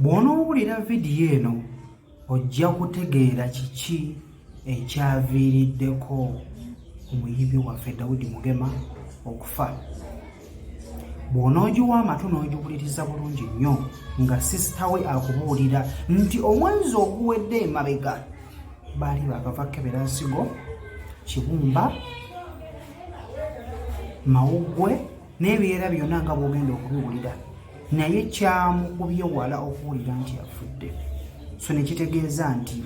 bw'onoowulira vidiyo eno ojja kutegeera kiki ekyaviiriddeko omuyibi waffe dawudi mugema okufa bw'onoogiwa amatu n'ogiwuliriza bulungi nnyo nga sisita we akubuulira nti omwezi oguwedde emabega baali bakava kebera nsigo kibumba mawuggwe n'ebiera byonna nga bw'ogenda okubiwulira naye kyamukubye wala okuwulira nti afudde so ne kitegeeza nti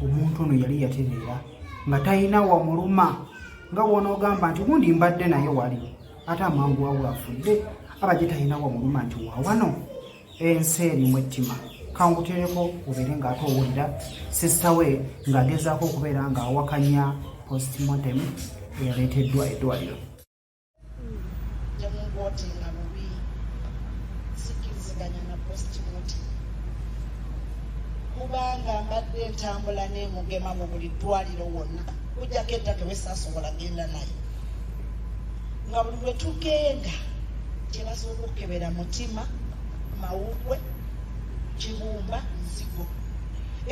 omuntu ono yali yatereera nga talina wamuluma nga wonoogamba nti gundi mbadde naye wali ate amangu wabwe afudde aba gye talina wamuluma nti wawano ensi erimu ettima kangutereko obeere ng'ate owulira sisita we ng'agezaako okubeera ng'awakanya postmortem eyareeteddwa eddwaliro nemungote nga bubi sikkiriziganya na post muti kubanga mbadde entambula nemugema mu buli ddwaliro wonna kujjako eddake wesasobola genda naye nga buli lwe tugenda kyebasobola okukebera mutima mawugwe kibumba nzigo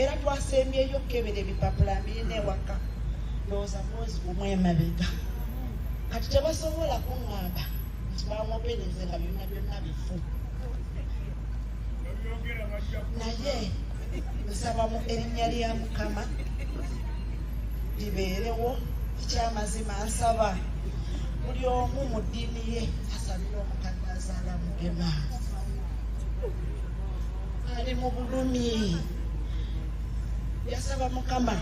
era twasembyeyo okukebera ebipapula mbirina ewaka ndowooza mwezi gumu emabega kati tebasobola kuŋŋamba nti bamwogereze nga byonna byonna bifu naye nsaba mu erinnya lya mukama libeerewo ekyamazima nsaba buli omu mu ddiini ye asabire omukadde azaala mugema ali mu bulumi yasaba mukama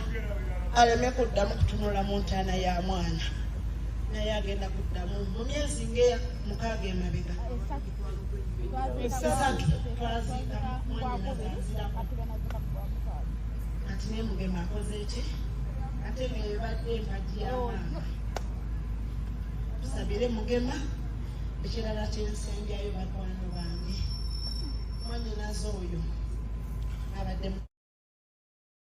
aleme kuddamu kutunula mu ntaana ya mwana naye agenda kuddamu mu myezi nga mukaaga emabega esatu twaziika kati naye mugema akoze ki ate nebadde empagi yamaama tusabire mugema ekirala kyensembyayo bakwano bange mwanyinaze oyo abadde